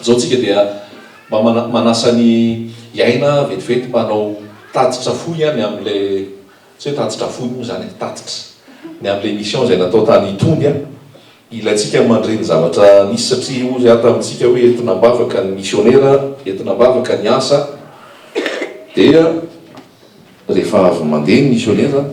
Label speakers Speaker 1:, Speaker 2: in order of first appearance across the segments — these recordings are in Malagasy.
Speaker 1: Izao tsika dia mba manasa ny hiaina vetivety mba hanao tatitra fohy ihany amin'ilay, tsy hoe tatitra fohy moa izany e, tatitra ny amin'ilay mission izay natao tany Tondy an! Ilaintsika ny mandre ny zavatra nisy satria hoy aho tamintsika hoe entina am-bavaka ny misionera, entina am-bavaka ny asa dia. Rehefa avy mandeha ny misionera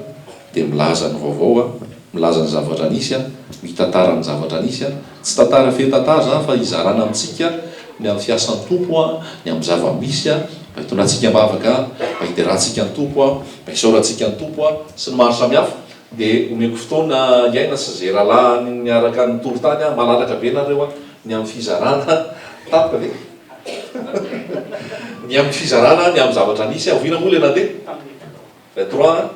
Speaker 1: dia milaza ny vaovao, milaza ny zavatra nisy, mitantara ny zavatra nisy, tsy tantara feno tantara izany fa hizarana amintsika ny amin'ny fiasan'ny Tompo, ny amin'ny zava-misy mba hitondrantsika am-bavaka, mba hiderantsika ny Tompo, mba hisaorantsika ny Tompo sy ny maro samihafa. Dia omeko fotoana hiaina sy izay rahalahy niaraka nitory tany, malalaka be nareo ny amin'ny fizarana tampoka ve? Ny amin'ny fizarana ny amin'ny zavatra nisy, avoina moa ilay nandeha tamin'ny vingt trois an,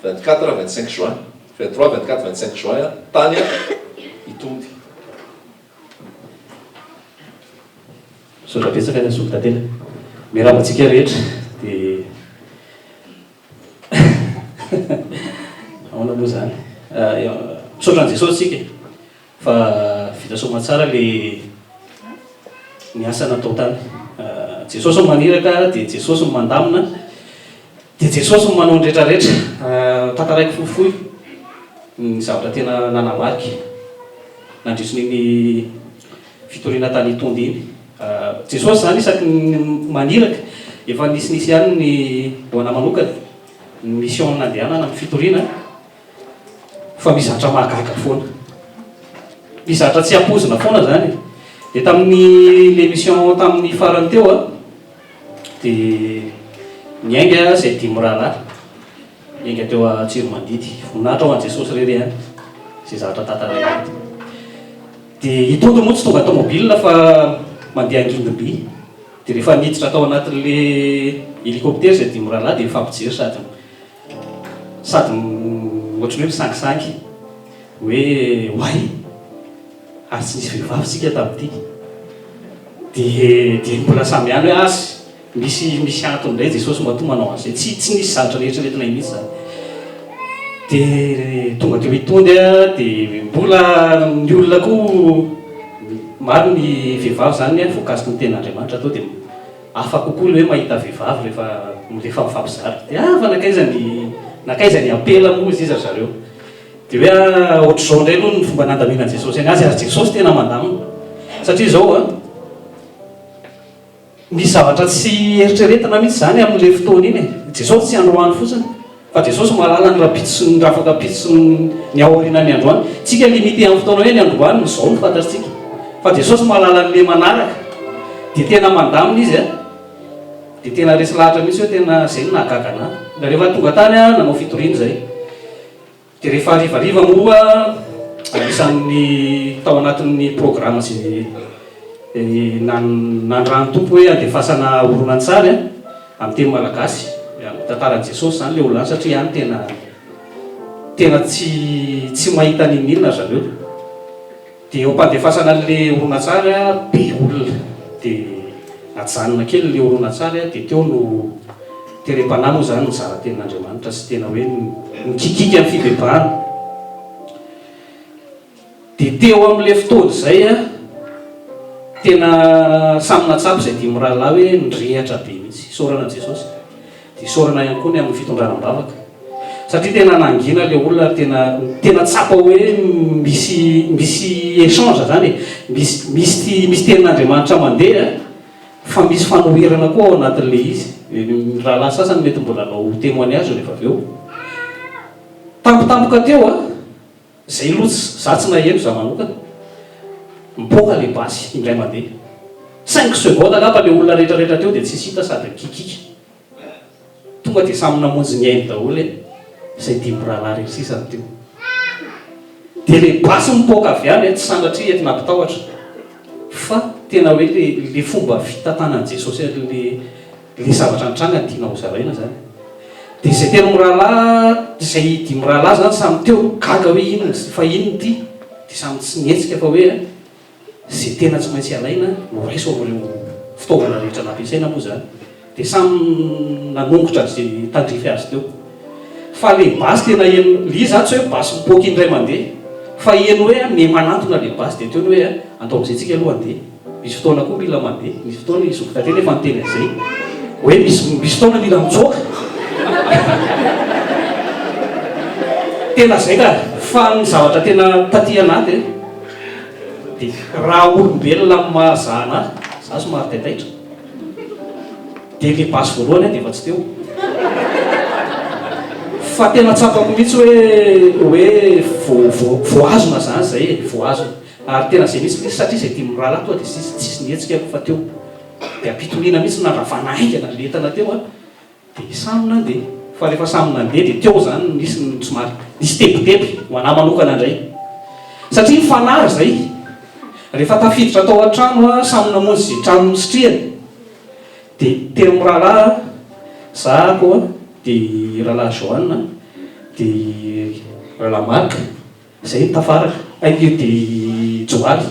Speaker 1: vingt quatre, vingt cinq juin, vingt trois, vingt quatre, vingt cinq juin tany an i Tondy.
Speaker 2: Misaotra betsaka ny zoky tantely a! Miarahaba antsika rehetra dia ahoana moa izany? Misaotra an'i Jesosy isika e! Fa vita soamatsara le ny asa natao tany. Jesosy no maniraka dia Jesosy no mandamina dia Jesosy no manao ny rehetra rehetra. Tantaraiko fohifohy ny zavatra tena nanamariko nandritrin'iny fitoriana tany Tonde iny. Jesosy izany isaky ny maniraka efa nisinisy ihany ny ho anà manokana ny mission nandehanana amin'ny fitoriana. Fa misy zatra mahagaga foana. Misy zatra tsy ampoizina foana zany e. Dia tamin'ny l'émission tamin'ny farany teo an, dia niainga izay dimy mirahalahy, niainga teo Antsiromandidy. Voninahitra ho an'i Jesosy re re an, izay zavatra tantaraina eto. Dia i Tojo moa tsy tonga tomobile fa mandeha angidimby. Dia rehefa niditra tao anatin'ilay hélicoptère izay dimy mirahalahy dia nifampijery sady. Sady ohatran'ny hoe misangisangy hoe oay ary tsy nisy vehivavy tsika tamin'ity dia dia mbola samy ihany hoe azy misy misy antony indray Jesosy matoa manao an'izay tsy tsy nisy zavatra nieritreretina iny mihitsy zany dia tonga teo hitody a dia mbola ny olona koa maro ny vehivavy zany hoe voakasiky ny tenin'Andriamanitra atao dia Hafa kokoa le hoe mahita vehivavy rehefa rehefa mifampizara. Dia ava nankaiza ny nankaiza ny ampela moa izy ry zareo. Dia hoe ah ohatr'izao indray aloha ny fomba nandaminan'i Jesosy an'azy ary Jesosy tena mandamina. Satria izao an, misy zavatra tsy eritreretina mihitsy izany amin'le fotoana iny e. Jesosy tsy androany fotsiny. Fa Jesosy mahalala ny rahampitso sy ny afaka hampitso ny ao aorianan'ny androany. Tsika limite amin'ny fotoana hoe ny androany no zao no fantatsika. Fa Jesosy mahalala ny le manaraka. Dia tena mandamina izy a. Dia tena resy lahatra mihintsy hoe tena zay no nahagaga anah. Dia rehefa tonga tany aho nanao fitoriana izay. Dia rehefa harivariva moa, anisan'ny tao anatin'ny programa izay nanirahan'ny Tompo hoe andefasana horonantsary an, amin'ny teny malagasy, amin'ny tantaran'i Jesosy izany ilay olona satria any tena tena tsy tsy mahita n'inon'inona ry zareo. Dia ho pandefasana an'ilay horonantsary be olona, dia najanona kely ilay horonantsary, dia teo no terem-panahy moa izany nizara tenin'Andriamanitra sy tena hoe nikikiaka ny fibebahana. Dia teo amin'ilay fotoana izay tena samy nahatsapa izay dimy mirahalahy hoe nirehatra be mihitsy. Isaorana an'i Jesosy. Isaorana ihany koa ny amin'ny fitondrana am-bavaka satria tena nangina ilay olona ary tena tena tsapa hoe misy misy échange izany e, misy misy misy tenin'Andriamanitra mandeha fa misy fanoherana koa ao anatin'ilay izy. Ny rahalahy sasany mety mbola hanao témoignage rehefa avy eo. Tampotampoka teo an! Zay aloha tsy, za tsy naheno za manokana, mipoaka le basy indray mandeha, cinq secondes angamba le olona rehetra rehetra teo dia tsisy hita sady mikikika, tonga dia samy namonjy ny ainy daholo e, zay dimy rahalahy rery sisa no teo, dia le basy mipoaka avy any e, tsy sanatria eto nampitahotra fa tena hoe le le fomba fitantanan'i Jesosy an'le. Ilay zavatra nitranga no tiana hozaraina izany. Dia izay telo mirahalahy, izay dimy mirahalahy izany samy teo, gaga hoe inona izy ity, fa inona ity? Dia samy tsy nihetsika fa hoe izay tena tsy maintsy alaina no raiso amin'ireo fitaovana rehetra nampiasaina moa izany. Dia samy nanongotra izay tandrify azy teo. Fa ilay basy tena heno, ilay izy izany tsy hoe basy mipoaka indray mandeha, fa heno hoe miha-manantona ilay basy, dia teo ny hoe, andao amin'izay tsika aloha handeha. Misy fotoana koa mila mandeha, misy fotoana i zoky Tately efa niteny an'izay hoe misy misy fotoana mila mitsoaka. Tena izay ka, fa ny zavatra tena taty an'ahy dia dia raha olombelona amin'ny maha za an'ahy, za somary taitaitra, dia ilay basy voalohany aho dia efa tsy teo. Fa tena tsapako mihitsy hoe hoe voa voa voahazona zany izay e, voahazona. Ary tena izay mihitsy minisitra satria izay dimy mirahalahy tonga dia ziziny tsisy nihetsika aloha fa teo dia am-pitoniana mihitsy no nandravana haingana ilay entana teo an, dia samy nandeha, fa rehefa samy nandeha dia teo izany no nisy ny somary nisy tebiteby ho an'ahy manokana indray satria ny fanahy izay rehefa tafiditra tao an-trano an, samy namonjy izay trano nisitrihany dia telo mirahalahy an, za ato an, dia i rahalahy Joan an, dia i rahalahy Marc. Zay ny tafara. Ainge de i Johary.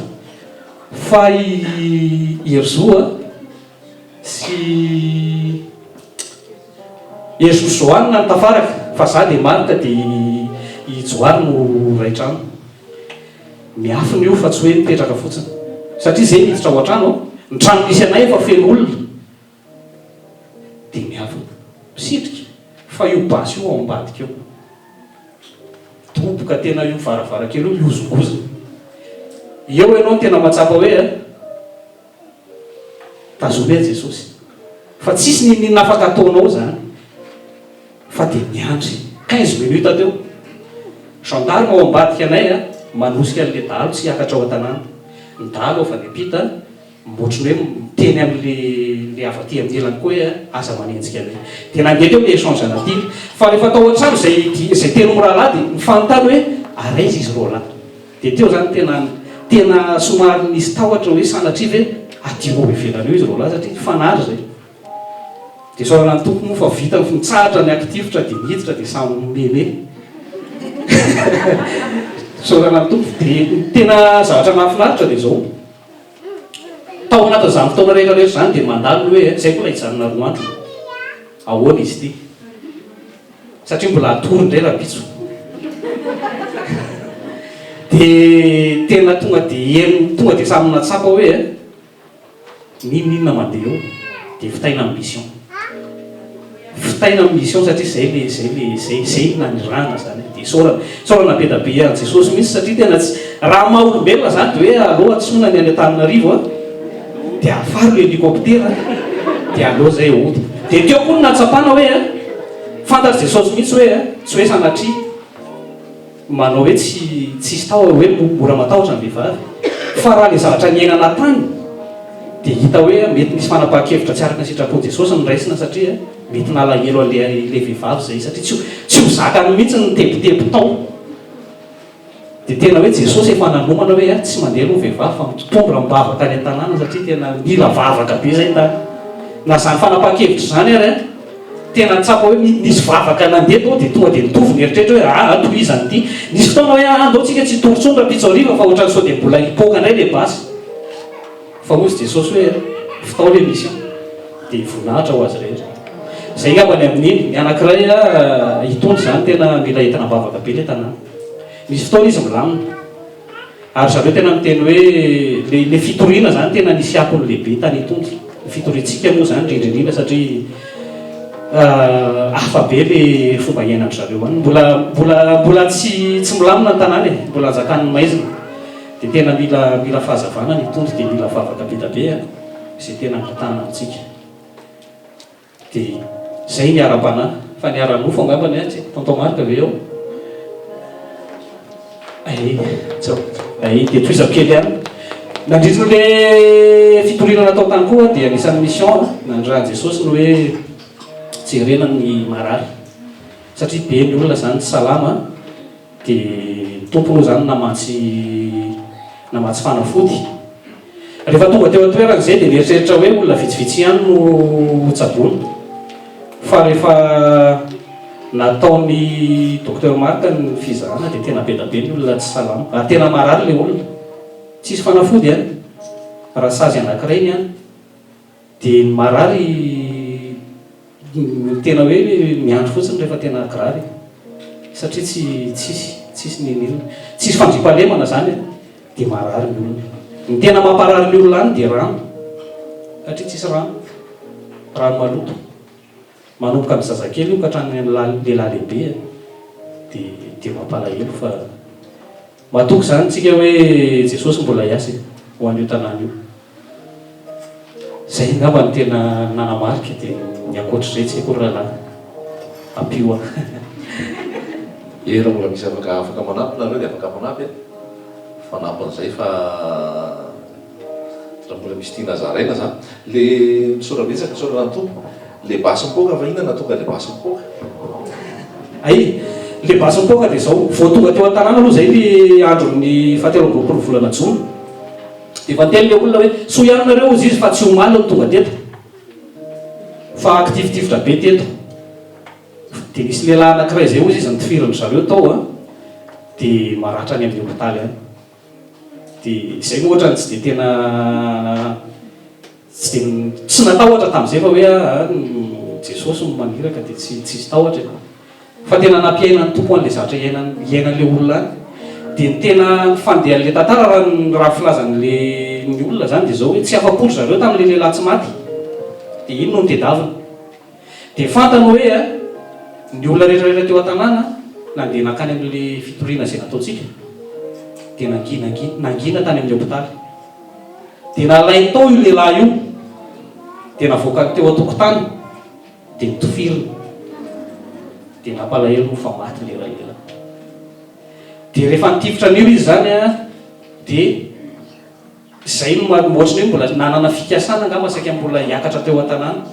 Speaker 2: Fa i Herizo a, sy Herizo sy Johanne no tafaraka, fa za de Marc de i Johary no ray trano. Miafina io fa tsy hoe mipetraka fotsiny. Satria zay miditra ao an-trano an. Ny trano misy anay efa feno olona. Dia miavona. Misitrika. Fa io basy io ao ambadika eo. Midoboka tena io varavarankely io mihozongozona. Eo ianao no tena mahatsapa hoe a. Tazomia Jesosy. Fa tsisy n'inon'inona afaka ataonao izany. Fa dia miandry. Quinze minutes teo. Gendarme ao ambadika anay a, manosika an'ilay dahalo tsy hiakatra ao an-tanàna. Ny dahalo avy any am-pita. Ohatran'ny hoe miteny an'ilay ilay avy aty amin'ny ilany koa hoe aza manenjika anay. Dia nandeha teo ilay échange anaty. Fa rehefa tao an-trano izay izay tenin'ny mirahalahy dia nifanontany hoe ary aiza izy roalahy. Dia teo izany tena tena somary nisy tahotra hoe sanatria ve aty ho ivelany eo izy roalahy satria nifanary izay. Dia isaorana ny Tompo moa fa vita ny nitsahatra ny hakitifitra dia niditra dia samy mihomehimehy. Isaorana ny Tompo. Dia ny tena zavatra nahafinaritra dia izao. Tao anatin'izany fotoana rehetra rehetra izany dia mandalo ny hoe izay mbola hijanona roa andro? Ahoana izy ity? Satria mbola hatory indray rahampitso. Dia tena tonga dia herim, tonga dia samy nahatsapa hoe n'inon'inona mandeha eo dia vitaina ny mission. Vitaina am mission satria zay le zay le zay zay no nanirahana zany hoe de isaorana isaorana be da be an Jesosy mintsy satria tena tsy raha maha olombelona zany de hoe allo antsoina ny any Antananarivo an de afaro le helicoptera an de allo zay ota de teo koa no nahatsapana hoe an fantatr Jesosy mintsy hoe an tsy hoe sanatria manao hoe tsy tsisy tao aho hoe mora matahotra ny vehivavy fa raha le zavatra niainana tany dia hita hoe mety misy fanapahan-kevitra tsy araka ny sitrapon'i Jesosy noraisina satria mety nalahelo an'le ilay vehivavy zay satria tsy tsy ho zakany mihitsy ny tebiteby tao dia tena hoe Jesosy efa nanomana hoe ah tsy mandeha aloha vehivavy fa mitondra am-bava tany an-tanàna satria tena nila vavaka be zay tany na zany fanapahan-kevitra zany ary an Tena tsapa hoe nisy vavaka nandeha tao dia tonga dia nitovy ny eritreritra hoe aa tohizana ity. Nisy fotoana hoe aa ndao tsika tsy hitory intsony Rampitsoarivo fa ohatran'ny sao dia mbola hipoaka indray ilay basy. Fa hoy izy Jesosy hoe fitao ilay misy an! dia voninahitra ho azy rehetra. Izay angamba ny amin'iny. Ny anankiray itony izany tena mila entina am-bavaka be ilay tanàna. Misy fotoana izy milamina. Ary zareo tena miteny hoe le le fitoriana zany tena nisy akony lehibe tany Itompy. Ny fitoriantsika moa zany indrindra indrindra satria hafa be le fomba iainandry zareo any. Mbola mbola mbola tsy tsy milamina ny tanàna e, mbola anjakan'ny maizina. De tena mila mila fahazavana ny Itompy de mila vavaka be da be a, ze tena angatahana amintsika. Dia izay ny ara-panahy, fa ny ara-nofo angamba ny atsy e! Tonton Marc ve ao? Ae, tsa, ae, dia tohizako kely ihany. Nandritry ny le fitoriana natao tany koa aho dia anisan'ny mission nanirahan'i Jesosy ny hoe jerena ny marary satria be ny olona izany tsy salama. Dia Tompo moa izany namatsy namatsy fanafody. Rehefa tonga teo an-toerana izay dia nieritreritra hoe olona vitsivitsy ihany no ho tsaboina. Fa rehefa nataon'i Docteur Marc ny fizahana dia tena be da be ny olona tsy salama. Ary tena marary ilay olona. Tsisy fanafody an! Raha sazy anankiray ny an! Dia ny marary no tena hoe miandry fotsiny rehefa tena kirary satria tsy tsisy tsisy ny milina tsisy fandriampahalemana zany e dia marary ny olona ny tena mamparary ny olona any dia rano satria tsisy rano rano maloto manomboka ny zazakely io ka hatrany lehilahy lehibe dia dia mampalahelo fa Matoky izany tsika hoe Jesosy mbola hiasa e, ho an'io tanàna io. Izay angamba no tena nanamarika dia ny ankoatr'izay tsy haiko ry rahalahy. Ampio aho.
Speaker 1: Ee raha mbola misy afaka afaka manampy nareo dia afaka manampy e, fanampin'izay fa Raha mbola misy tiana zaraina za. Le misaotra betsaka misaotra an'ny Tompo. Le basy mipoaka fa inona nahatonga le basy mipoaka?
Speaker 2: Hay, le basy mipoaka dia izao, vao tonga teo an-tanàna aloha izay le andron'ny fahatelo amby roapolo volana jona, dia efa niteny le olona hoe soa ihany nareo hozy izy fa tsy omaly no tonga teto fa kitifitifitra be teto, dia nisy lehilahy anakiray izay hozy izy nitifirindry zareo tao an, dia maratra any amin'ny hopitaly any. Dia izay moa ohatrany tsy dia tena tsy dia tsy natahotra tamin'izay fa hoe an Jesosy no maniraka dia tsy tsisy tahotra e! Fa tena nampiainan'ny Tompo an'ilay zavatra iainan'ny iainan'ilay olona any. Dia ny tena fandehan'ilay tantara raha ny raha ny filazan'ilay ny olona izany dia izao hoe tsy afa-po ry zareo tamin'ilay lehilahy tsy maty dia iny no nitedavina. Dia fantany hoe ny olona rehetra rehetra teo an-tanàna nandeha nankany amin'ilay fitoriana izay nataontsika dia nangina nangina tany amin'ny hopitaly. Dia nalainy tao io lehilahy io, dia navoakany teo an-tokotany, dia nitofirina. Dia nampalahelo fa maty ilay ray lehilahy. Dia rehefa nitifitra an'io izy izany dia Izay no maha ohatrany hoe mbola nanana fikasana angamba saika mbola hiakatra teo an-tanàna.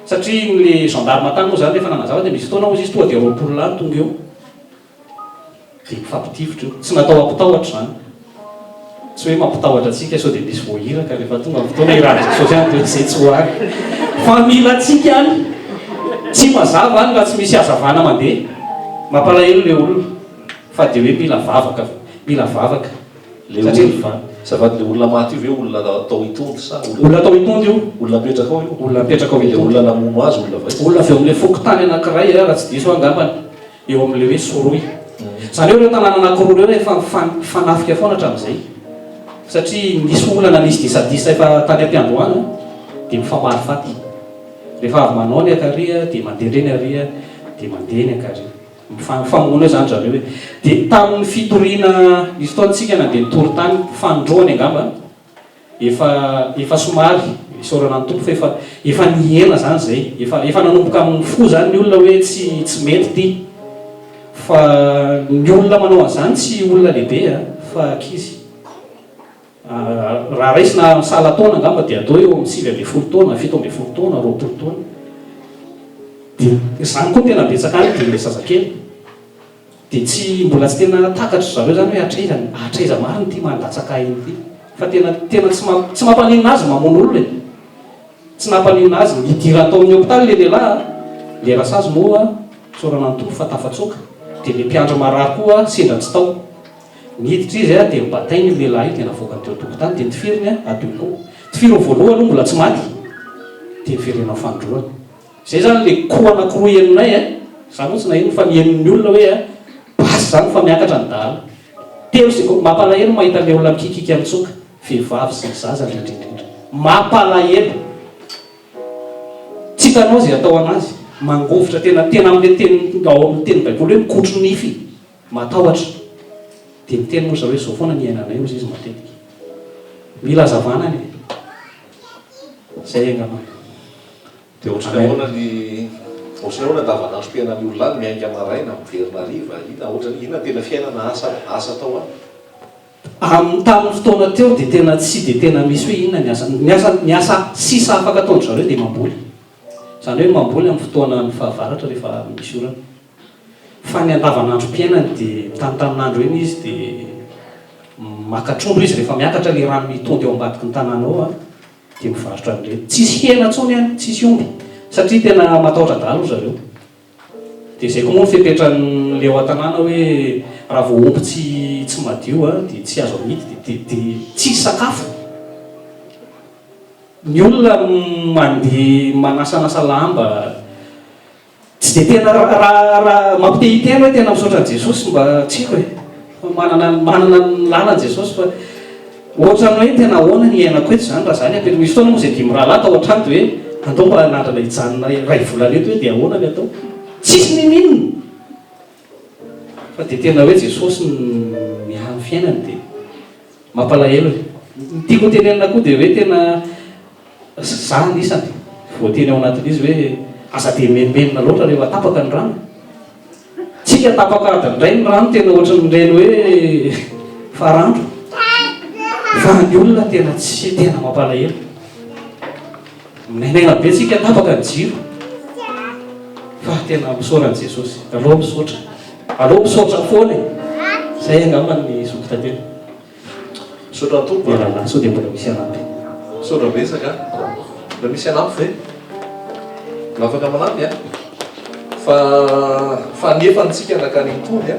Speaker 2: Satria ilay gendarme tany moa izany rehefa nanazava dia misy fotoana hozy izy tonga dia roapolo lahy no tonga eo. Dia mifampitifitra eo. Tsy natao hampitahotra izany. Tsy hoe mampitahotra antsika sao dia misy voahiraka rehefa tonga ny fotoana hiradran'i Sôfiane dia izay tsy ho avy. Fa mila antsika any. Tsy mazava any raha tsy misy hazavana mandeha. Mampalahelo ilay olona. Fa dia hoe mila vavaka. Mila vavaka. Le olona, azafady, le olona maty
Speaker 1: io ve olona atao hitondro sa olona. Olona atao hitondro io.
Speaker 2: Olona apetraka ao io. Olona
Speaker 1: apetraka ao hitondro. Le olona
Speaker 2: namono azy
Speaker 1: olona vao aiza. Olona avy eo amin'ilay fokontany
Speaker 2: anankiray raha tsy diso aho angambany, eo amin'ilay hoe Soroy. Izany hoe ireo tanàna anankiroa ireo efa mifanafika foana hatramin'izay satria nisy olana nisy disadisa efa tany am-piandohana dia mifamaly faty. Rehefa avy manao ny akary dia mandeha indray ny ary dia mandeha ny akary. Mifanofamono eo zany zareo e! De tamin'ny fitoriana nisy fotoantsika nandeha nitory tany, fanindroany angamba, efa efa somary, isaorana ny Tompo fa efa efa nihena zany zay, efa efa nanomboka mifoha zany ny olona hoe tsy tsy mety ty, fa ny olona manao an'izany tsy olona lehibe a, fa ankizy. Raha raisina amin'ny sahala taona angamba dia atao hoe eo amin'ny sivy ambin'ny folo taona, fito ambin'ny folo taona, roapolo taona. Dia izany koa tena betsaka any dia ilay zazakely. Dia tsy, mbola tsy tena takatr'dry zareo izany hoe hatraiza, hatraiza marina ity mandatsaka aina ity. Fa tena, tena tsy mamp, tsy mampaninona azy ny mamono olona e. Tsy nampaninona azy ny hidirany tao amin'ny hopitaly ilay lehilahy a, ilay rasazy moa isaorana ny Tompo fa tafatsoaka. Dia ilay mpiandry marary koa sendra tsy tao. Niditra izy dia nobatainy io lehilahy io dia navoakany teo an-tokotany dia notifiriny adonono. Tifiriny voalohany aloha mbola tsy maty dia noverenao fanindroany. Izay izany ilay koa anankiroa henonay e! Za moa tsy naheno fa ny henon'ny olona hoe basy izany fa miakatra ny dahalo. Telo sy ko, mampalahelo ny mahita ilay olona mikiakiaka mitsoka, vehivavy sy ny zaza indrindra indrindra. Mampalahelo. Tsy hitanao izay atao anazy. Mangovitra tena, tena amin'ilay teny ao amin'ny teny baiboly hoe mikotro nify. Matahotra. Dia miteny moa zareo hoe izao foana ny iainanay hozy izy matetika. Mila hazavana ny e. Izay angamba. Dia ohatrany hoe.
Speaker 1: Ohatrany ahoana ny ohatrany ahoana andavanandrom-piainan'ny olona any, miainga maraina, miverina hariva, inona ohatrany inona tena fiainana, asa, asa atao any? Amin'ny tamin'ny fotoana
Speaker 2: teo dia tena tsy dia tena misy hoe inona ny asa. Ny asa ny asa sisa afaka ataon-dry zareo dia mamboly. Izany hoe mamboly amin'ny fotoanan'ny fahavaratra rehefa misy orana. Fa ny andavanandrom-piainany dia mitanitanin'andro eny izy dia maka trondro izy rehefa miakatra ilay rano mitondy ao ambadiky ny tanàna ao an, dia mivarotra an'ireny. Tsisy hena intsony any, tsisy omby satria tena matahotra adala ry zareo. Dia izay koa moa ny fepetran'ny leo an-tanàna hoe raha vao omby tsy tsy madio an dia tsy azo amidy dia dia dia tsisy sakafo. Ny olona mandeha manasanasa lamba. Tsy dia tena raha raha mampitehitena hoe tena misaotra an'i Jesosy mba tsiko e! fa manana manana ny lalany Jesosy fa ohatran'ny hoe tena ahoana ny iainako eto izany raha izany ampianao misy fotoana moa izay dimy rahalahy tao an-trano dia hoe andao mba hanandrana hijanona iray volana eto hoe dia ahoana ny atao tsisy nininona Fa dia tena hoe Jesosy no miaro fiainany dia mampalahelo e! Ny tiako ho tenenina koa dia hoe tena za anisany voateny ao anatin'izy hoe aza dia menomenona loatra rehefa tapaka ny rano. Tsika tapaka adiny iray ny rano tena ohatran'ireny hoe farandro fa ny olona tena tsy tena mampalahelo. Menagna be tsika tapaka ny jiro fa tena misaora an'i Jesosy aleo misaotra aleo misaotra foana e zay angamba ny zoky tantely
Speaker 1: misaotra Tompo e rahalahy sao dia mbola misy
Speaker 2: hanampy misaotra betsaka
Speaker 1: mbola misy hanampy ve mba afaka manampy a fa fa nefa antsika nakany an-tony a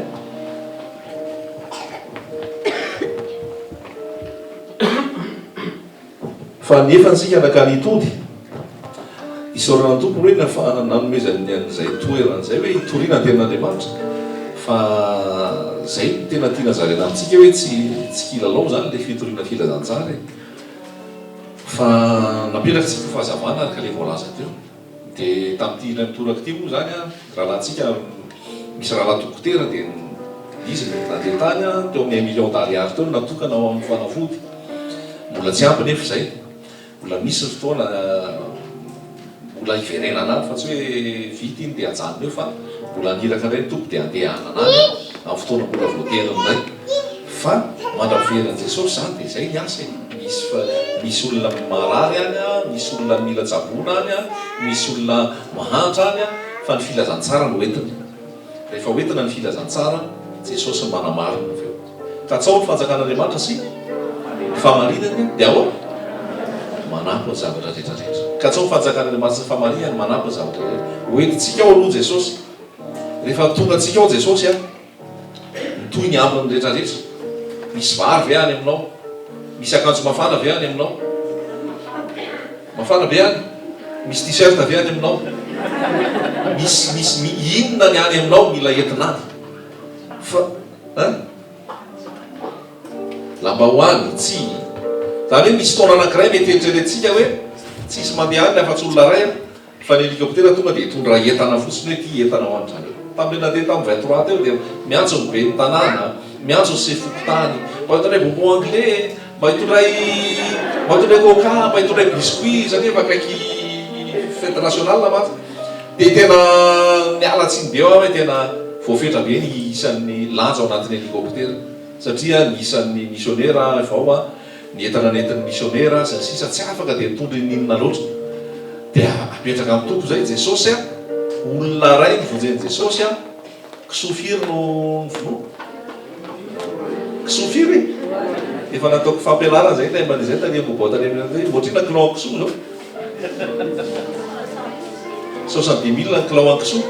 Speaker 1: Fa ny efa antsika nankany tody. Isaorana ny Tompo hoe nanomezany an'izay toerana izay hoe hitoriana ny tenin'Andriamanitra. Fa izay no tena tiana zaraina amintsika hoe tsy tsy kilalao izany ilay fitoriana filazantsara e. Fa napetraky isika fahazavana ary ka ilay voalaza teo. Dia tamin'ity indray mitoraka ity moa izany rahalahintsika misy rahalahy dokotera dia izy no nandeha tany teo amin'ny un million d'ariary teo no natokana ho amin'ny fanafody. Mbola tsy ampy nefa izay. Mbola misy ny fotoana mbola hiverenana any fa tsy hoe vita iny dia ajanona eo fa mbola haniraka indray ny Tompo dia handehanana any amin'ny fotoana mbola voateriny indray. Fa mandra veran Jesosy zany de zay ny asa e, misy fa misy olona marary any a, misy olona mila tsaboina any a, misy olona mahantra any a, fa ny filazantsara no entina, rehefa hoentina ny filazantsara Jesosy no manamarina avy eo, katsaho ny fanjakan'Andriamanitra sy ny fahamarinany de ahoana? manampy ny zavatra rehetra rehetra, katsaho ny fanjakan'Andriamanitra sy ny fahamarinany manampy ny zavatra rehetra, hoentintsika ao aloha Jesosy, rehefa tonga antsika ao Jesosy a. Mitohy ny ambiny ny rehetra rehetra. Misy vary ve any aminao? Misy akanjo mafana ve any aminao? Mafana be any? Misy t-shirt ve any aminao? Misy misy mi inona ny any aminao mila entina any? Fa eh? Lambahoany, tsiny. Zany hoe misy fotoana anankiray mety eritreretintsika hoe tsisy mandeha any afa-tsy olona iray an. Fa ny helikoptera tonga dia hitondra entana fotsiny hoe ity entana ho an-dry zareo. Tamin'ilay nandeha tamin'ny vingt trois teo dia miantso ny ben'ny tanàna, miantso ny sefo fokontany, mba hitondray bonbon anglais e, mba hitondray mba hitondray coca, mba hitondray biscuit satria efa akaiky fety nationale mantsy. Dia tena miala tsiny be aho hoe tena voafetra be ny isan'ny lanja ao anatin'ny helikoptera satria ny isan'ny misionera vao a. Ny entana nentin'ny misionera sy ny sisa tsy afaka dia nitondra inon'inona loatra. Dia apetraka amin'ny Tompo izay, Jesosy a! Olona iray novonjen'i Jesosy a! Kisoa firy no novonoina? Kisoa firy? Efa nataoko fampianarana izay taimbany izay tany Ambohibato tany amin'ny, ohatrina kilao kisoa izao. Soixante-dix mille ny kilao an-kisoa,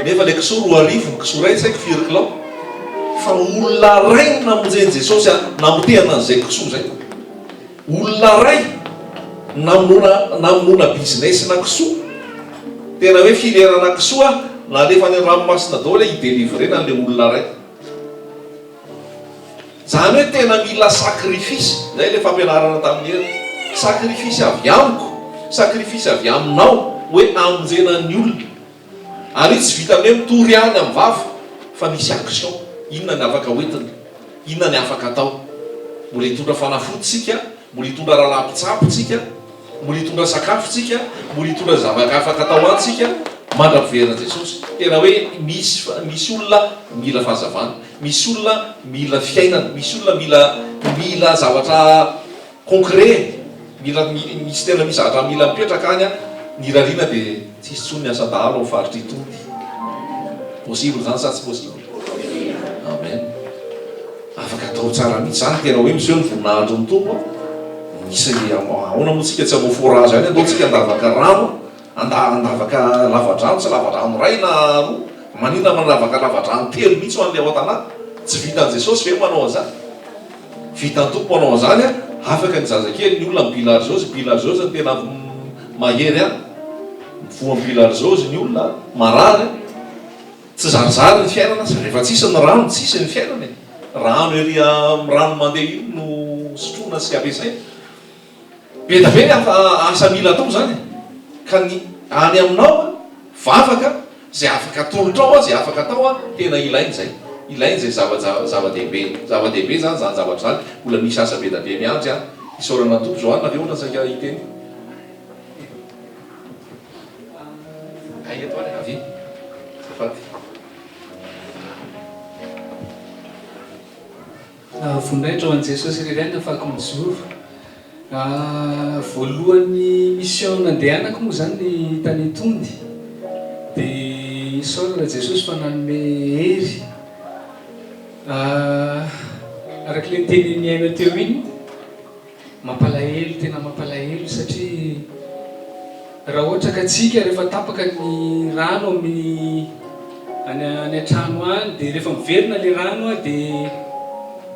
Speaker 1: nefa ilay kisoa roa arivo ny kisoa iray, tsy haiko firy kilao. Fa olona iray no namonjen'i Jesosy an, namotehana an'izay kisoa izay. Olona iray namonoana namonoana business na kisoa. Tena hoe filière-na kisoa nalefa any an-dranomasina daholo hoe hi-délivrer-na an'ilay olona iray. Zany hoe tena mila sacrifice, zay le fampianarana tamin'i Hery, sacrifice avy amiko, sacrifice avy aminao hoe amonjena ny olona. Ary io tsy vitan'ny hoe mitory ihany amin'ny vava fa misy action, inona ny afaka hoentina, inona ny afaka atao. Mbola hitondra fanafody tsika. Mbola hitondra rahalahy mpitsabo tsika, mbola hitondra sakafo tsika, mbola hitondra zavatra afaka atao an tsika mandra piverina Jesosy. Tena hoe misy misy olona mila fahazavana, misy olona mila fiainana, misy olona mila mila zavatra concret, mila misy tena misy zavatra mila mipetraka any an, ny irariana dia tsy hisy tsony ny asa dahalo am faritra itony. Possible zany sa tsy possible? Amen. Afaka atao tsara mihitsy zany tena hoe miseho ny voninahitry ny Tompo a! Misy ahoana moa tsika tsy hanao forage any andao tsika handavaka rano a! Handavaka lavadrano tsy lavadrano iray na roa maninona manavaka lavadrano telo mihitsy ho an'ilay ao an-tanàna? Tsy vitan'i Jesosy ve manao an'izany? Vitan'ny Tompo manao an'izany a! Afaka ny zazakely ny olona mibilarzeozy mibilarzeozy ny tena mahery any mivoha mibilarzeozy ny olona marary a! Tsy zarizary ny fiainana aza rehefa tsisy ny rano tsisy ny fiainana e! Rano ery amin'ny rano mandeha iny no sotroina sy ampiasaina. Be da be ny asa asa mila atao izany e! Ka ny any aminao a, vavaka izay afaka atolotrao azy afaka atao a, tena ilaina izay. Ilaina izay zava ja zava-dehibe. Zava-dehibe izany izany zavatra izany. Mbola misy asa be da be miandry an! Isaorana ny Tompo. Johanna ve ohatran'ny saika hiteny?
Speaker 3: Voninahitra ho an'i Jesosy irery ihany afahako mijoro. Voalohan'ny mission nandehanako moa zany ny tany Tondy dia isaorana Jesosy fa nanome hery arak'ilay nitenin'i Aina teo iny, Mampalahelo tena mampalahelo satria raha ohatra ka tsika rehefa tapaka ny rano amin'ny any any an-trano any dia rehefa miverina le rano a dia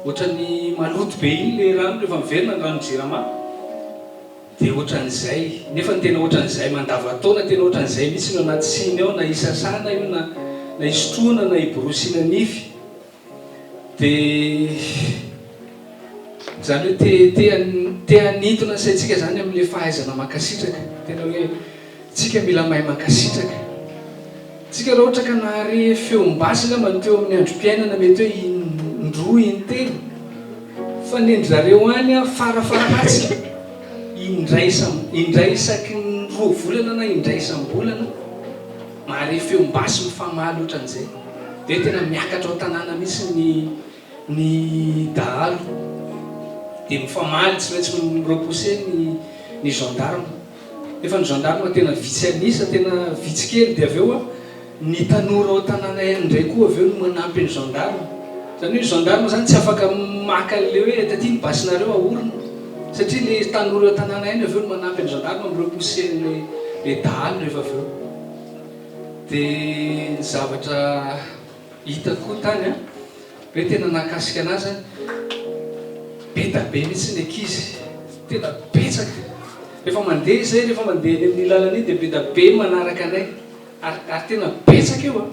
Speaker 3: ohatran'ny maloto be iny le rano rehefa miverina ny ranon-jirama dia ohatran'izay nefa ny tena ohatran'izay mandavataona tena ohatran'izay mihitsy no anaty siny ao na hisasana io na na hisotroana na hiborosiana nify Dia izany hoe te te te hanintona ny saintsika izany amin'ilay fahaizana mankasitraka. Tena hoe tsika mila mahay mankasitraka. Tsika raha ohatra ka nahare feom-basy angamba ny teo amin'ny androm-piainana mety hoe in-droa in-telo fa nendry zareo any aho fara faharatsiny in-dray isam-indray isaky ny roa volana na in-dray isam-bolana. Mahare feom basy mifamaly otran'izay de tena miakatra ao tanàna mihitsy ny ny dahalo de mifamaly tsy maintsy mi repousser ny ny gendarme nefa ny gendarme tena vitsy an'isa tena vitsy kely de avy eo a ny tanora ao tanàna ihany indray koa avy eo no manampy ny gendarme zany hoe ny gendarme zany tsy afaka maka an'le hoe taty ny basinareo ahorina Satria ny tanora tanàna ihany avy eo no manampy ny gendarme amin'ireo pousser-n'ilay ilay dahalo rehefa avy eo. Dia ny zavatra hitako koa tany an, hoe tena nahakasika anahy izany, be dia be mihitsy ny ankizy, tena betsaka. Rehefa mandeha izay, rehefa mandeha eny amin'ny lalana eny dia be dia be ny manaraka anay. Ary ary tena betsaka io a!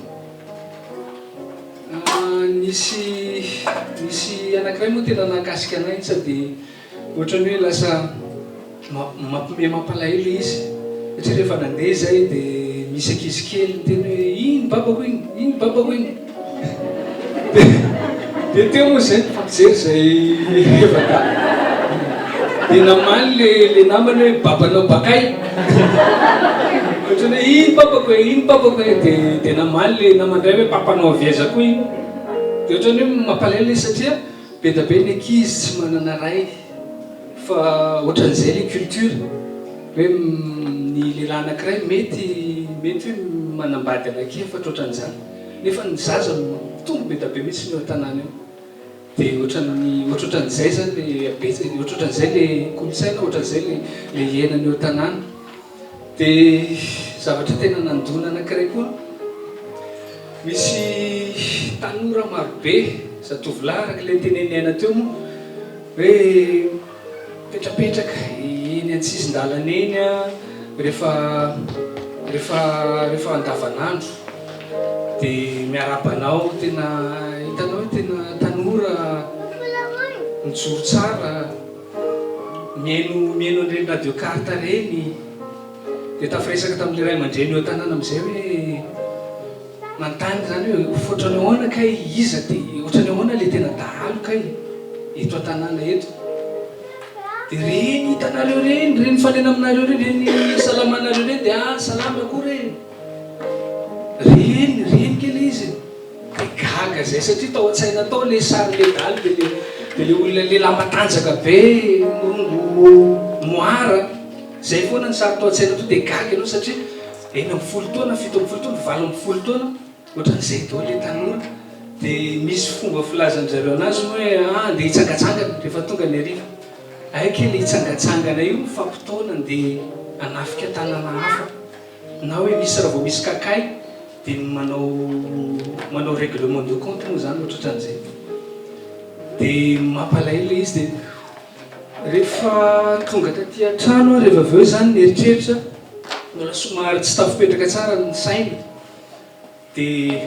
Speaker 3: Nisy nisy anankiray moa tena nahakasika anay iny sao dia ohatran'ny hoe lasa mampime mampalahelo ilay izy satria rehefa nandeha izahay dia misy ankizy kely niteny hoe iny babako iny, iny babako iny. Dia teo moa izay mpampijery izay hevaka dia namaly le le namany hoe babanao bakay ohatran'ny hoe iny papako e iny papako e de de namaly le namany iray hoe papanao avy aiza koa iny de ohatran'ny hoe mampalahelo izy satria be dia be ny ankizy tsy manana ray fa ohatran'izay le culture hoe ny lehilahy anankiray mety mety hoe manambady anankiefatra ohatran'izany nefa ny zaza no mampitombo be da be mintsy ny eo an-tanàna eo dia ohatran'ny ohatrohatran'izay zany le habetsaka ohatrohatran'izay le kolontsaina ohatran'izay le le iainana eo an-tanàna dia zavatra tena nandona anankiray koa misy tanora marobe zatovolahy araka ilay ntenenin'ny aina teo moa hoe Mipetrapetraka eny an-tsisin-dalana eny rehefa rehefa rehefa andavanandro dia miarahaba anao tena hitanao hoe tena tanora mijoro tsara mihaino mihaino an'ireny radio carte ireny dia tafiresaka tamin'ilay ray aman-dreny eo an-tanàna amin'izay hoe Manontany zany hoe otrany ahoana kay iza te otrany ahoana le tena dahalo kay eto an-tanàna eto de reny hitanareo reny reny mifanena aminareo reny reny isalamanareo reny de ah salama koa re reny reny ke le izy de gaga zay satria tao an-tsaina tao le sary le dahalo de le de le olona lehilahy matanjaka be morongo moara zay foana ny sary tao an-tsaina to de gaga ianao satria Enina ambin'ny folo taona, fito ambin'ny folo taona, valo ambin'ny folo taona, ohatran'izay daholo ilay tanora. Dia misy fomba filazan'ny zareo anazy hoe ah, andeha hitsangatsangana rehefa tonga ny hariva. Hay kay ilay hitsangatsangana io mifampitaona andeha hanafika tanàna hafa. Na hoe misy raha vao misy kakay dia manao manao règlement de compte moa izany ohatrohatran'izay. Dia mampalahelo ilay izy dia. Rehefa tonga taty an-trano aho rehefa avy eo izany nieritreritra, mbola somary tsy tafipetraka tsara ny saina dia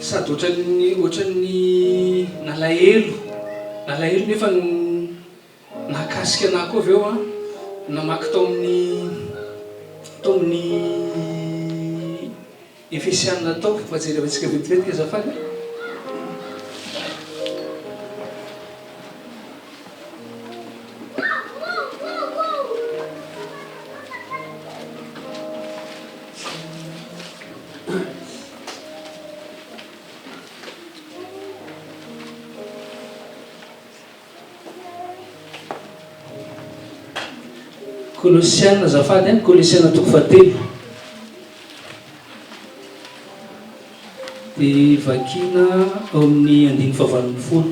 Speaker 3: sady ohatran'ny ohatran'ny nalahelo, nalahelo nefa nahakasika anah koa avy eo an, namaky tao amin'ny tao amin'ny. Efesianina ataovy fa jerevantsika vetivetika azafady a. Kolosiana azafady a, Kolosiana toko fahatelo dia vakiana ao amin'ny andininy fahavalo ambin'ny folo.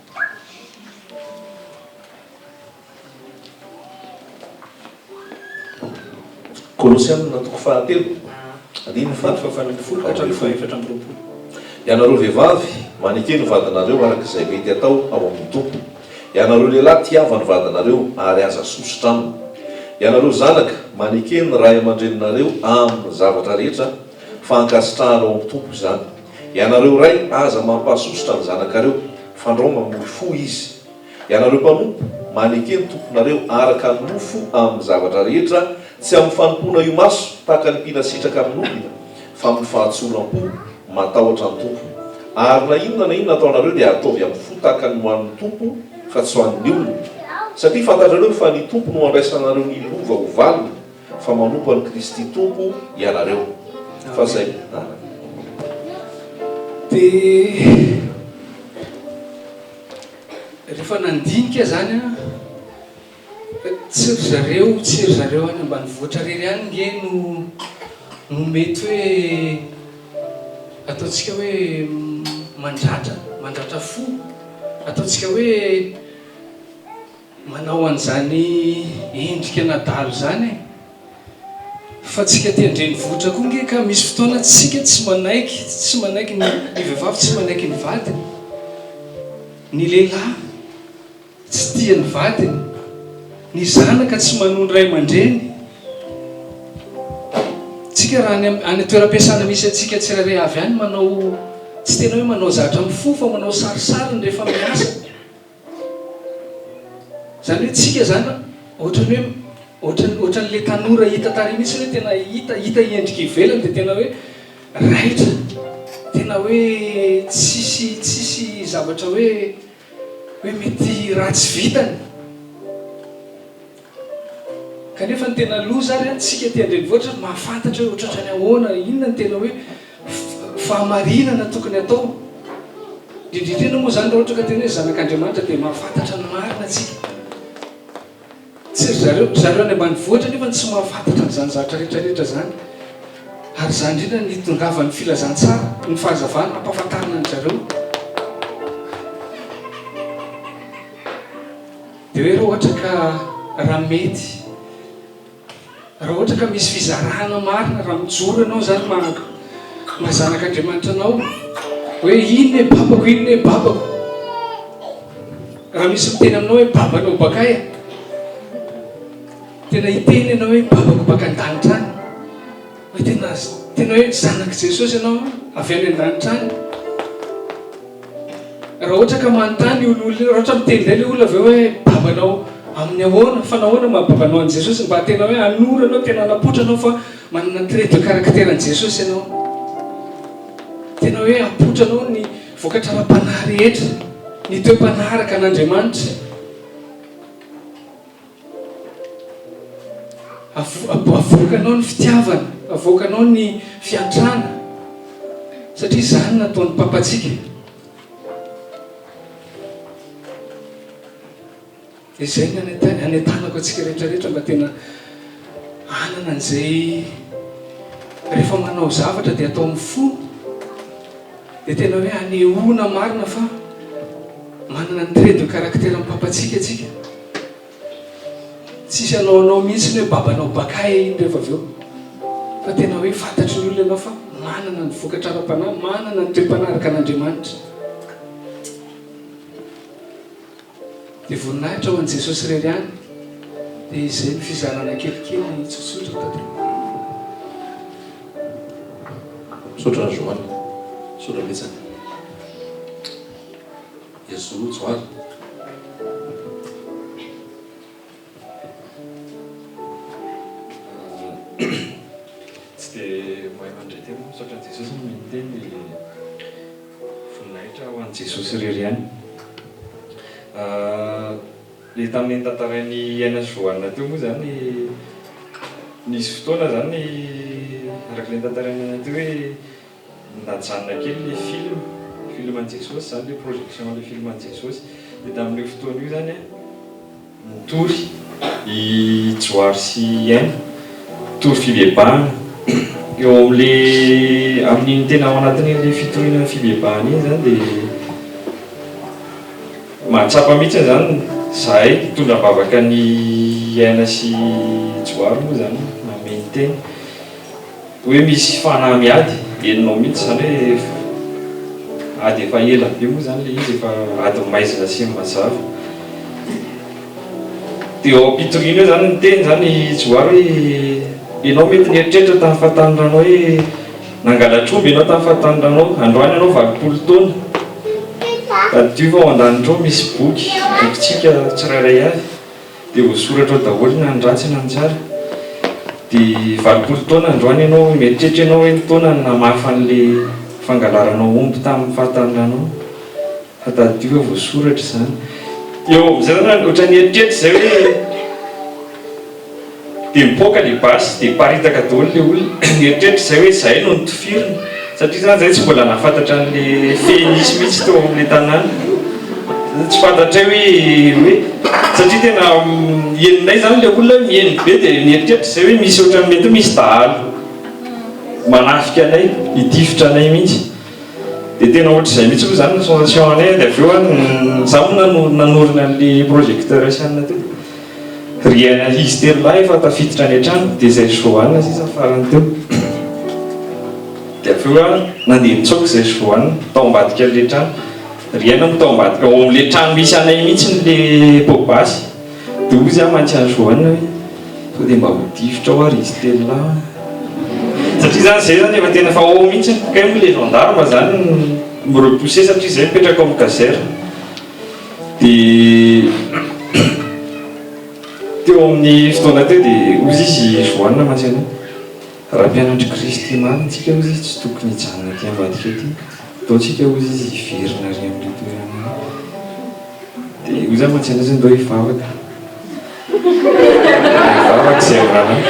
Speaker 1: Kolosiana toko fahatelo andininy faha
Speaker 3: fahefatra amby roapolo. Ianareo
Speaker 1: vehivavy, maneke ny vadinareo araka izay mety hatao ao amin' ny Tompo. Ianareo lehilahy, tiava ny vadinareo, ary aza sosotra aminy. Ianareo zanaka, maneke ny ray aman-dreninareo amin' ny zavatra rehetra, Fankasitrahana ao am Tompo izany. Ianareo Ray aza mampahasosotra ny zanakareo, fandrao mamory fo Izy. Ianareo mpanompo, maneke ny tomponareo araka ny nofo amin ny zavatra rehetra, tsy amin ny fanompoana imaso tahaka ny mpila sitraka amin olona, fa amin ny fahatsoram po, matahotra ny Tompo. Ary na inona na inona ataonareo dia ataovy amin ny fo tahaka ny ho an ny Tompo fa tsy ho an ny olona. Satria fantatrareo fa ny Tompo no andraisanareo ny lova ho valiny. Fa manompo an'i Kristy Tompo ianareo. Fa zay a.
Speaker 3: Dia rehefa nandinika zany an, tsy ry zareo, tsy ry zareo any ambanivohitra rery any nge no no mety hoe ataontsika hoe mandratra, mandratra fo, ataontsika hoe. Manao an'izany endrika an'adala izany e! Fa tsika aty an-drenivohitra koa nge ka misy fotoana tsika tsy manaiky, tsy manaiky ny ny vehivavy tsy manaiky ny vadiny, ny lehilahy tsy tia ny vadiny, ny zanaka tsy manoa ny ray aman-dreny. Tsika raha any any toeram-piasana misy antsika tsirairay avy any manao tsy tena hoe manao zatra mifofo fa manao sarisariny rehefa miasa. Zany hoe tsika izany ohatran'ny hoe ohatran'ny ohatran'ny le tanora hita tary mihitsy hoe tena hita hita endrika ivelany dia tena hoe raitra tena hoe tsisy tsisy zavatra hoe hoe mety ratsy vitany Kanefa ny tena loza ary an, tsika aty an-drenivohitra no mahafantatra hoe otratrany ahoana, inona ny tena hoe fahamarinana tokony atao. Indrindra indrindra moa izany raha ohatra ka tena hoe zanak'Andriamanitra dia mahafantatra ny marina tsika. Tsy ry zareo, ry zareo any ambanivohitra nefa tsy mahafantatra an'izany zavatra rehetra rehetra izany. Ary izany indrindra no itondravan'ny filazantsara, ny fahazavana hampafantarina an-dry zareo. Dia hoe raha ohatra ka raha mety, raha ohatra ka misy fizarana marina, raha mijoro ianao izany maha maha zanak'Andriamanitra anao, hoe iny ne babako, iny ne babako, raha misy miteny aminao hoe babanao bakaia, tena hiteny ianao hoe babako baka an-danitra any. Raha tena tena hoe zanak'i Jesosy ianao avy any an-danitra any, raha ohatra ka manontany io olona io, raha ohatra miteny indray ilay olona avy eo hoe babanao amin'ny ahoana, fa nahoana no maha babanao an'i Jesosy? Mba tena hoe hanoro anao, tena hanapoitra anao fa manana ny trait de caractère an'i Jesosy ianao. Tena hoe hapoitra anao ny vokatra ara-panahy rehetra, ny toe-panahy araka an'Andriamanitra. Avoakanao ny fitiavana, avoakanao ny fiantrana, satria izany no ataon'ny Papantsika. Dia izay no anentanako antsika rehetra rehetra mba tena hanana an'izay rehefa manao zavatra dia atao amin'ny fo dia tena hoe anehoana marina fa manana ny trait de caractère-n'ny Papantsika antsika. Tsisy hanao anao mihitsy ny hoe babanao bakay iny rehefa avy eo. Fa tena hoe fantatry ny olona ianao fa manana ny vokatra ara-panahy, manana ny toe-panahy araka an'Andriamanitra. Dia voninahitra ho an'i Jesosy irery ihany. Dia izay ny fizarana kelikely tsotsotra tato. Misaotra
Speaker 1: Rajoany. Misaotra betsaka. Yesu rojo aly.
Speaker 4: Tsy dia mahay mandre tena aho misaotra an'i Jesosy no miteny voninahitra ho an'i Jesosy irery ihany. Ilay tamin'ny notantarain'i Aina sy Johanna teo moa izany, nisy fotoana izany araka ilay notantarain'i Aina teo hoe Najanona kely le film, film an'i Jesosy zany le projection le film an'i Jesosy, de tamin'io fotoana io zany an, nitory i Johary sy i Aina, nitory fibebahana, eo amin'le amin'iny tena ao anatin'iny fitoriana ny fibebahana iny zany de mahatsapa mihitsy zany zahay hitondra am-bavaka an'i Aina sy Johary moa zany, namehy ny tena. Hoe misy fanahy miady enonao mihitsy zany hoe ady efa ela be moa zany le izy efa ady maizina sy mazava de eo ampitoriana eo zany niteny zany i Johary hoe enao mety nieritreritra tamin'ny fahatanorana hoe nangalatra omby enao tamin'ny fahatanorana androany enao valopolo taona tadidio fa ao an-danitra ao misy boky bokintsika tsirairay avy Dia ho soratra ao daholo na ny ratsy na ny tsara. Dia valopolo taona androany ianao, mieritreritra ianao hoe ny taona no namafa an'ilay fangalaranao omby tamin'ny fahataninanao. Fa tadidio hoe voasoratra izany. Eo amin'izay ianao ohatran'ny hieritreritra izay hoe. Dia mipoaka le basy dia miparitaka daholo le olona, nieritreritra izay hoe izahay no notifirina, satria zany izahay tsy mbola nahafantatra an'le fehy nisy mihitsy teo amin'le tanàna, dia tsy fantatray hoe hoe satria tena henonay zany le olona hoe miheno be dia nieritreritra izay hoe misy ohatran'ny mety hoe misy dahalo manafika anay, hitifitra anay mihitsy, dia tena ohatr'izay mihitsy moa zany ny sensation anay, dia avy eo an, za moa nanorina an'le projecteur asiana teo. Ry ankizy telo lahy efa tafiditra any an-trano dia izay ry Johanna sisa farany teo. Dia avy eo ary nandeha nitsoaka izay ry Johanna tao ambadikan'ilay trano. Ry aina no tao ambadika ao amin'ilay trano misy anay mihitsy ilay pot basy. Dia hoy izy aho mantsy an'i Johanna hoe sao dia mba ho tifitra ao ary izy telo lahy an. Satria izany izay izany efa tena efa ao mihitsy. Kay moa ilay gendarme izany mi-repousser satria izay mipetraka ao amin'ny caserne. Teo amin'ny fotoana teo dia hozy izy Joanne Mantsina, raha mpianatr'i Kristy marina isika hozy izy tsy tokony hijanona aty ambadika aty, ataontsika hozy izy hiverina ary amin'ilay toerana ary, dia hoy za Mantsina zany ndao hivavaka. Vavaka izay anarany.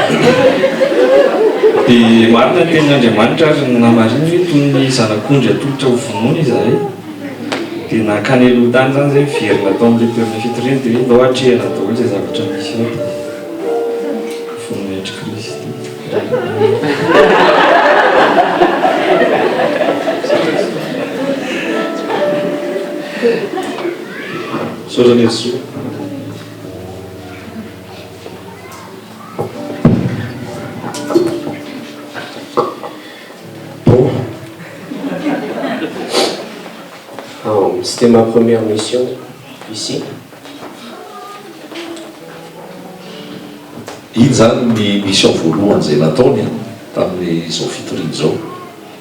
Speaker 4: Dia marina ny tenin'Andriamanitra ary namarininy hoe toy ny zanak'ondry atolotra ho vonoina izahay. Dia nankany aloha tany izany izay niverina tao amin'ilay toerana fitoriana dia hoe ndao atrehina daholo izay zavatra misy ao dia vonona hiatr'i Kristy
Speaker 1: Misaotra an'i Jesoa.
Speaker 5: C'était ma première mission ici.
Speaker 1: Iny zany ny mission voalohany izay nataony tamin'izao fitoriana izao.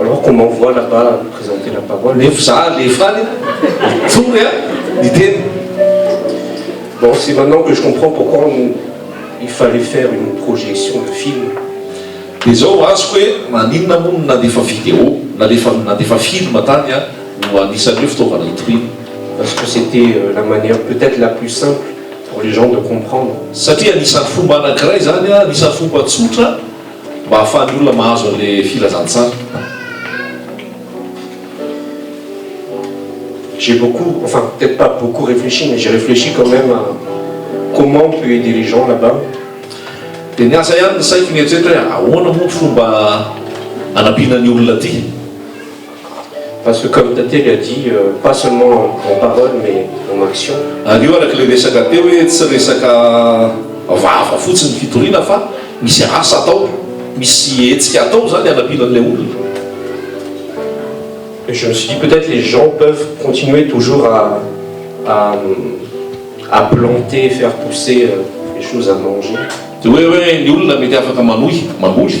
Speaker 1: Alors
Speaker 5: comment voit là bas présenter la parole nefa za alefa any
Speaker 1: mitory a ny teny
Speaker 5: bon c'est maintenant que je comprends pourquoi il fallait faire une projection de film de
Speaker 1: zao ho azoko hoe maninona moa no nandefa video nalefa nandefa film tany a no anisan'ny hoe fitaovana hitoriana parce que c'était
Speaker 5: la manière peut-être la plus simple pour les gens de comprendre satria anisan'ny
Speaker 1: fomba anankiray zany a anisan'ny fomba tsotra Mba hahafahan'ny olona mahazo an'ilay filazantsara.
Speaker 5: J'ai beaucoup, enfin peut-être pas beaucoup réfléchi mais j'ai réfléchi quand même à comment peut aider les gens là-bas. Dia
Speaker 1: niasa ihany ny saiko nieritreritra hoe ahoana moa ny fomba hanampiana ny olona aty.
Speaker 5: Parce que comme Tate lui a dit, pas seulement en parole mais en action. Ary io araka ilay resaka
Speaker 1: teo hoe tsy resaka vava fotsiny ny fitoriana fa misy asa atao, misy hetsika atao izany hanampiana an'ilay olona.
Speaker 5: Et je me suis dit peut-être les gens peuvent continuer toujours à à à planter, faire pousser des choses à manger. Dia hoe hoe
Speaker 1: ny olona mety afaka manohy, mamboly.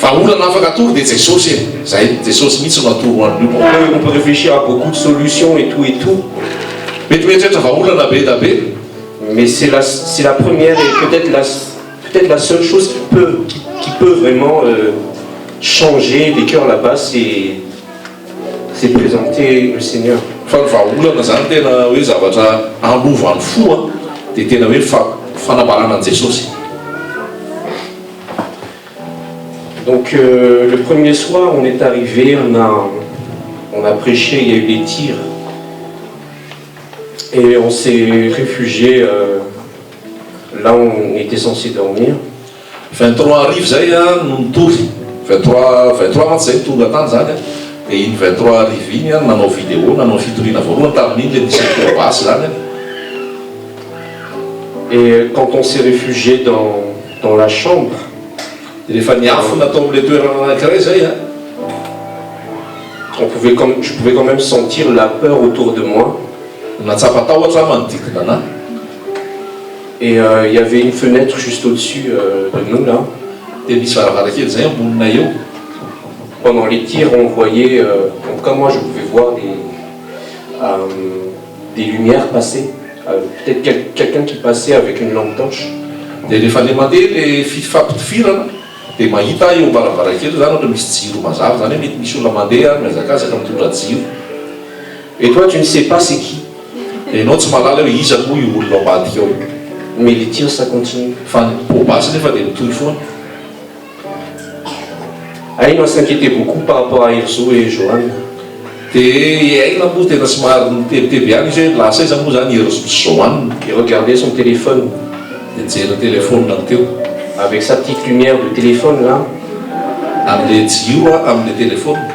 Speaker 1: Vahaolana afaka atoro dia Jesosy e! Zay, Jesosy mihitsy no atoro an'io mpo. Peu on peut réfléchir à
Speaker 5: beaucoup de solutions et tout et tout. Mety
Speaker 1: mieritreritra vahaolana be da be. Mais c'est la
Speaker 5: c'est la première et peut-être la peut-être la seule chose qui peut qui qui peut vraiment changer les cœurs là-bas c'est c'est présenter le Seigneur. Fa ny vahaolana
Speaker 1: zany tena hoe zavatra hanova ny fo an dia tena hoe fa fanambarana an'i Jesosy.
Speaker 5: Donc euh, le premier soir, on est arrivé, on a, on a prêché, il y a eu des tirs. Et on s'est réfugié euh, là où on était censé dormir. 23
Speaker 1: arivo zay a ah, no nitory 23 23 mantsy zay tonga tany zany a ah. dia iny 23 arivo iny a ah, nanao vidéo nanao fitoriana voalohany tamin'iny le nisy basy zany a
Speaker 5: et quand on s'est réfugié dans Dans la chambre, rehefa
Speaker 1: niafina tao amin'ilay toerana anankiray izay an, on
Speaker 5: pouvait quand, je pouvais quand même sentir la peur autour de moi. Nahatsapa tahotra
Speaker 1: aho manodidina anah.
Speaker 5: Et il y avait une fenêtre juste au-dessus de nous là. Dia nisy varavarankely
Speaker 1: izay amboninay eo. Pendant
Speaker 5: les tirs on voyait, en tout cas moi je pouvais voir des. des lumières passées peut-être quelqu'un qui passait avec une lampe torche dia rehefa le
Speaker 1: mandeha le fifampitifirana dia mahita aho eo ambaravarankely zany ohatra misy jiro mazava zany hoe mety misy olona mandeha mihazakazaka mitondra jiro et
Speaker 5: toi tu ne sais pas c'est qui enao tsy mahalala
Speaker 1: hoe iza moa io olona ao ambadika ao io mais les tirs
Speaker 5: ça continue fa ny poa basy
Speaker 1: nefa dia mitohy foana.
Speaker 5: Aina s'inquiétait beaucoup par rapport à Enzo et Johanna dia
Speaker 1: i Aina moa tena somary nitebiteby ihany izy hoe lasa aiza moa izany i Enzo sy Johanna. Il regardait son
Speaker 5: téléphone, dia nijery ny
Speaker 1: telefaoniny teo. Avec sa petite
Speaker 5: lumière de téléphone là, amin'ilay
Speaker 1: jiro amin'ilay telefaoniny.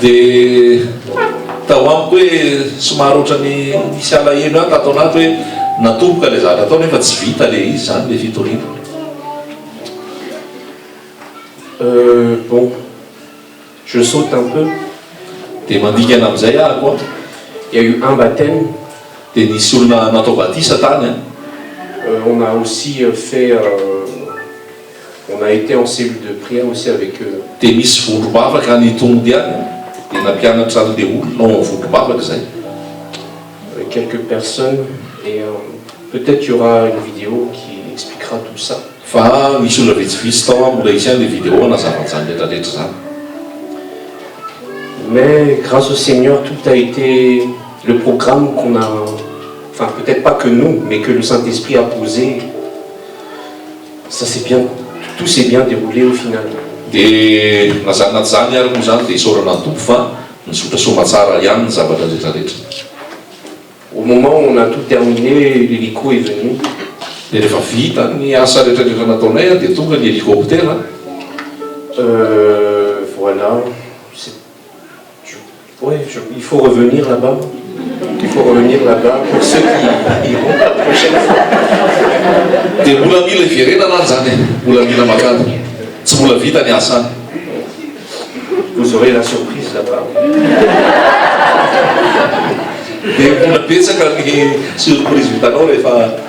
Speaker 5: Dia
Speaker 1: tao amiko hoe somary ohatran'ny nisy alahelo ihany tato anaty hoe natomboka ilay zavatra atao nefa tsy vita ilay izy izany ilay fitoriana.
Speaker 5: Euh, bon, je saute un peu. Dia
Speaker 1: mandingana amin'izay aho koa. Il y a eu
Speaker 5: un baptême. Dia nisy
Speaker 1: olona natao batisa tany an. Euh, on a
Speaker 5: aussi fait euh, On a été en cellule de prière aussi avec eux. Dia nisy vondrom-bavaka
Speaker 1: any Itongo dia any dia nampianatra an'ilay olona ao amin'ny vondrom-bavaka izay. Avec
Speaker 5: quelques personnes et peut être il y aura une vidéo qui expliquera tout ça. Fa nisy olona
Speaker 1: vitsivitsy tao an, mbola hisy ihany ilay vidéo hanazava an'izany rehetra rehetra izany.
Speaker 5: Mais grâce au Seigneur tout a été le programme qu'on a enfin peut être pas que nous mais que le Saint-Esprit a posé. Ça c'est bien, tout s'est bien deroulé au final. Dia
Speaker 1: na zany na tsy zany ary moa zany dia isaorana ny Tompo fa nizotra soamatsara ihany ny zavatra retraretra.
Speaker 5: Au moment où on a tout
Speaker 1: terminé,
Speaker 5: l'hélico est venu. Dia
Speaker 1: rehefa vita ny asa retraretra nataonay dia tonga ny helicoptera. Euh,
Speaker 5: voilà, c'est. Oui, je, il faut revenir là-bas. Il faut revenir là-bas pour ceux qui iront la prochaine fois.
Speaker 1: Dia mbola mila iverenana ary izany e, mbola mila makany. Tsy mbola vita ny asa any.
Speaker 5: Vous aurez la surprise là-bas.
Speaker 1: Dia mbola betsaka ny surprise vitanao rehefa.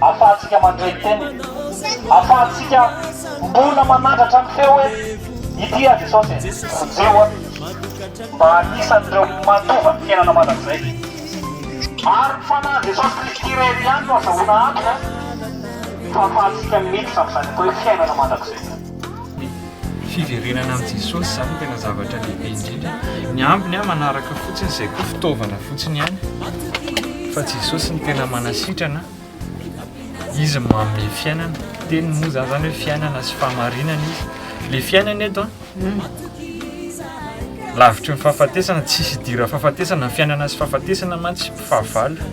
Speaker 6: Afahantsika mandre tena. Afahantsika mbola manandratra ny feo hoe, Ity aho Jesosy e, vonjeo aho. Mba anisan'ireo mandova ny fiainana mandrakizay. Ary ny Fanahin'i Jesosy Kristy irery ihany no azahoana antoka fa afahantsika miditra amin'izany atao hoe fiainana mandrakizay izany. fiverenana
Speaker 4: amin'i Jesosy izany no tena zavatra lehibe indrindra. Ny ambiny an, manaraka fotsiny izay koa fitaovana fotsiny ihany. Fa Jesosy ny tena manasitrana, izy no manome fiainana. Teniny moa izany izany hoe fiainana sy fahamarinana izy. Le fiainana eto an, lavitry ny fahafatesana, tsisy idiran'ny fahafatesana, ny fiainana sy fahafatesana mantsy fahavalo.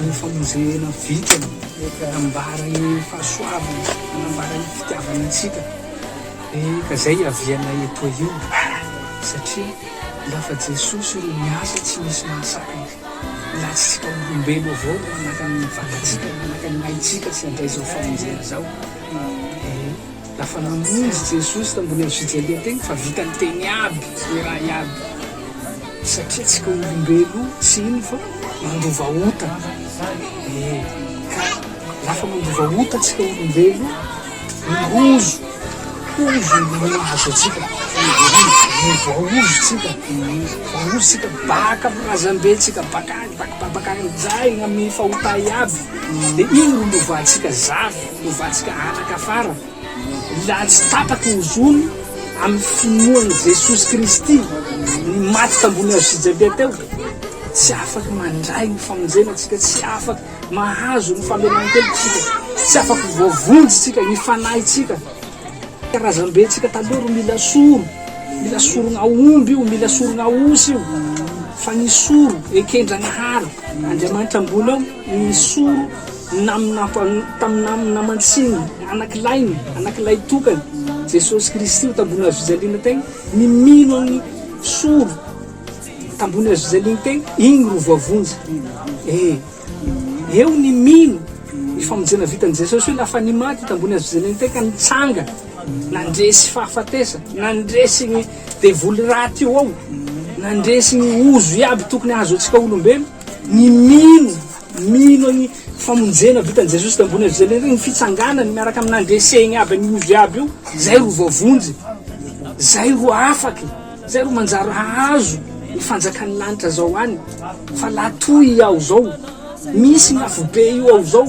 Speaker 3: Ny famozehena vitany hanambara ny fahasoavany, hanambara ny fitiavany antsika dia ka izay hiavianay etoa io satria lafa Jesosy ro miasa tsy misy mahasakana, latsitsika olombelo avao ro manakana ny vatantsika, manakana ny aintsika tsy handray izao famonjena izao ee. Lafa namonjy Jesosy tambony avo fijalia tegna fa vitany tegny aby le raha iaby satria tsika olombelo tsy ino fa mandova ota e ka lafa mandova ota tsika olombelo mirozo ozo no mahazo atsika e voaozo tsika voaozo tsika baka am razambe tsika bakany bak babakany zay amy fahota iaby de iny ro lovatsika zafy Ovantsika hanaka fara ny laha tsy tapaky ny zony amin'ny finoan'i Jesosy Kristy ny maty tambony hazo fijaliana teo. Tsy afaky mandray ny famonjena tsika, tsy afaky mahazo ny famelan-keloka tsika, tsy afaky voavonjy tsika, ny fanahy tsika. Karazam-be tsika taloha ro mila soro, mila sorona omby io, mila sorona osy io, fa ny soro eken-dragnahary Andriamanitra ambony ao, ny soro Naminafan, tamin'ny namany naman-tsiny, anakilahiny, anakilahitokany, Jesosy Kristy ho tambony hazo fijaliana tey, ny mino Aminy solo tambony hazo fijaliana tey, igny ro voavonjy. Ee, eo ny mino ny famonjena vitan'i Jesosy hoe lafa nimaty tambony hazo fijaliana tey ka nitsanga, nandresy fahafatesa, nandresy gny devoly raty eo ao, nandresy gny ozo iaby tokony hahazo antsika olombelo, ny mino Mino an'i famonjena vitan'i Jesosy teo ambony avize lery, ny fitsanganany miaraka amin'ny nandreseny aby an'i ovy aby io, zay ro voavonjy, zay ro afaky, zay ro manjary hahazo ny fanjakan'ny lanitra zao any, fa la toy i ao zao, misy ny afobe io ao zao,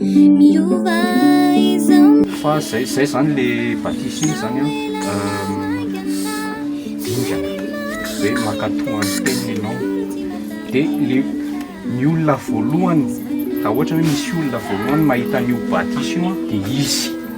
Speaker 7: Miova izao ny Fa zay zay zany le batisa iny zany an dingana hoe mankato any teniny enao de le ny olona voalohany ra ohatra hoe misy olona voalohany mahita an'io batisa io an de izy